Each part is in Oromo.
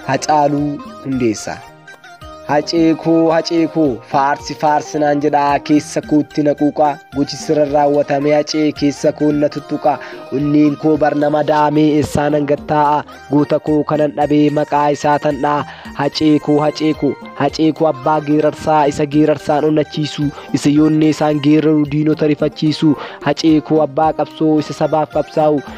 Hacaaluu Hundeessaa. Hacee koo hacee koo faarsi faarsi naan jedhaa keessa kootti na quuqaa gochi sirra raawwatame hacee keessa koo na tuttuqaa onneen koo barnama daamee eessaa nan gattaa'a goota koo kanan dhabee maqaa isaa tan dha'a hacee koo hacee koo hacee koo abbaa geerarsaa isa geerarsaan onnachiisu isa yoonnee isaan geeraru diinota rifachiisu hacee koo abbaa qabsoo isa sabaaf qabsaa'u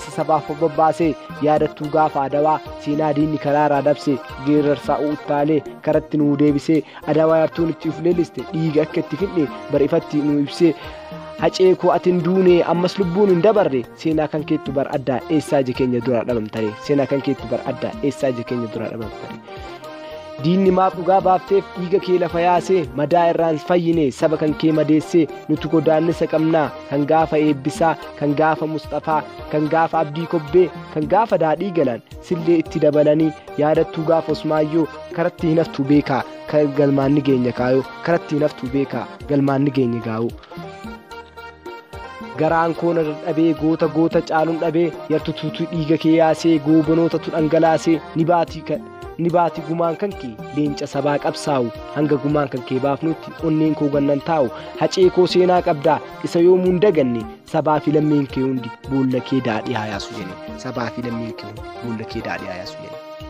isa sabaaf bobbaasee yaadattuu gaafa adawaa seenaa diinni karaarraa dabse geerarsaa uuttaalee karatti nuu deebisee adawaa yartuun itti uf leelliste dhiiga akka itti finne bar'ifatti nuu ibsee hacee koo ati hin duune ammas lubbuun hin dabarre seenaa kan keettu bar addaa eessaa ija keenya dura dhabamtare seenaa kan keettu bar addaa eessaa ija keenya dura dhabamtare. diinni maaf dhugaa baafteef dhiiga kee lafa yaasee madaa irraan fayyine saba kan kee madeessee nutu godaannisa qabnaa kan gaafa eebbisaa kan gaafa musxafaa kan gaafa abdii kobbee kan gaafa daadhii galaan sillee itti dabalanii yaadattuu gaafa osmaayyoo karatti hin haftuu beekaa kan galmaan ni geenya kaayoo karatti hin haftuu beekaa galmaan ni geenya gaa'uu. garaan koona dadhabee goota goota caalun dhabee yartutuutu dhiiga kee yaasee goobanootatu dhangalaasee ni baatii kan. ni baati gumaan kan kee leenca sabaa qabsaa'u hanga gumaan kan kee baafnutti onneen koo gannan taa'u hacee koo seenaa qabdaa isa yoomuu hin daganne sabaa fi lammiin kee hundi boolla kee daadhii haayaasu jedhe sabaa fi lammiin kee hundi boolla kee daadhii haayaasu jedhe.